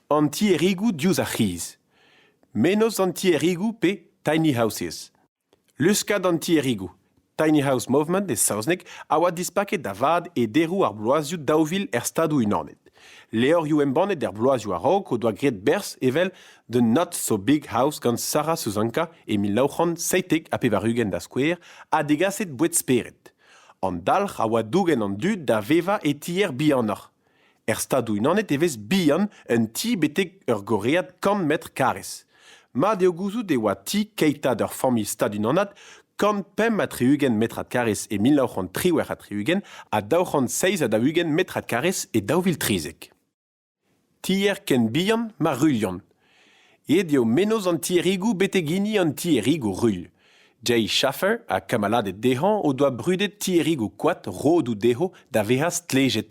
An tierigoù diouzh ar c'hiz Mennozh an tierigoù pe tiny houses Luskad an tierigoù Tiny House Movement e saozneg a oa dispaket da vat e deroù ar bloazioù daou vil er Stadoù-Unanet. Levrioù embannet er bloazioù a-raok o doa graet berzh evel The Not So Big House gant Sarah Susanka e mil nav c'hant seitek ha pevar-ugent da skouer, ha degaset boued-spered. An dalc'h a oa dougen an dud da vevañ e tier bihanoc'h. Er Stadoù-Unanet e vez bihan un ti betek ur gorread kant metr karrez. Mat eo gouzout e oa ti Keita d'ur familh stadunanat kant pemp ha tri-ugent metrad-karrez e mil nav c'hant triwec'h ha tri-ugent ha daou c'hant seizh ha daou-ugent metrad-karrez e daou vil trizek. Tier ken bihan ma ruilhont. Aet eo mennozh an tierigoù betek hini an tierigoù ruilh. Jay Schaffer ha kamaladed dezhañ o doa brudet tierigoù koad rodoù dezho da vezañ stlejet.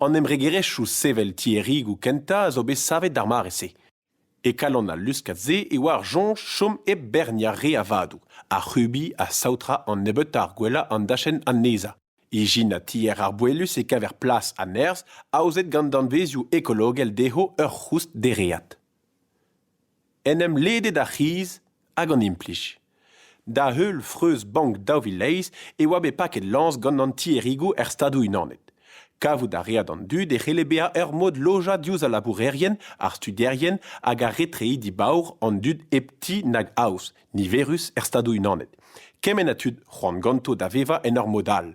An embregerezhioù sevel tierigoù kentañ a zo bet savet d'ar mare-se. E kalon al luskad-se e oa ar soñj chom hep berniañ re a vadoù, ac'hubiñ ha saotrañ an nebeutañ ar gwellañ an dachenn annezañ. Ijinatier ar boellus e kaver plas ha nerzh aozet gant danvezioù ekologel dezho ur c'houst dereat. En em ledet ar c'hiz hag an implij. Da-heul freuz bank daou vil eizh e oa bet paket lañs gant an tierigoù er Stadoù-Unanet. Kavout a reer d'an dud e c'helle bezañ ur mod lojañ diouzh al labourerien, ar studerien hag ar retreidi baour an dud hep ti nag aoz, niverus er Stadoù-Unanet. Kement a tud c'hoant ganto da vevañ en ur mod all.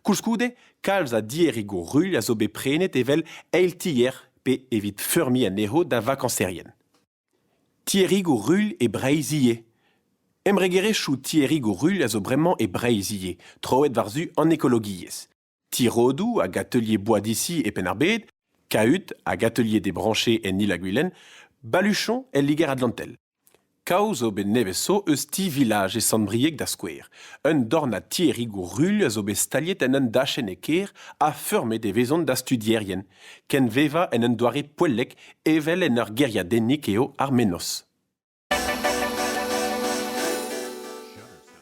Koulskoude, kalz a dierigoù ruilh a zo bet prenet evel eil tier pe evit feurmiñ anezho da vakañserien. Tierigoù ruilh e Breizh ivez. Embregerezhioù tierigoù ruilh a zo bremañ e Breizh ivez, troet war-zu an ekologiezh. Tirodoù hag atelier bois d'ici e Penn-ar-Bed, kaout hag atelier debrañcher en Île-à-Gwilen, baluchon el Liger-Atlantel. Kaoz zo bet nevez zo eus ti Village e Sant-Brieg da skouer. Un dornad tierigoù ruilh a zo bet staliet en un dachenn e kêr ha feurmet e vezont da studierien. Kenvevañ en un doare poellek evel en ur gêriadennig eo ar mennozh.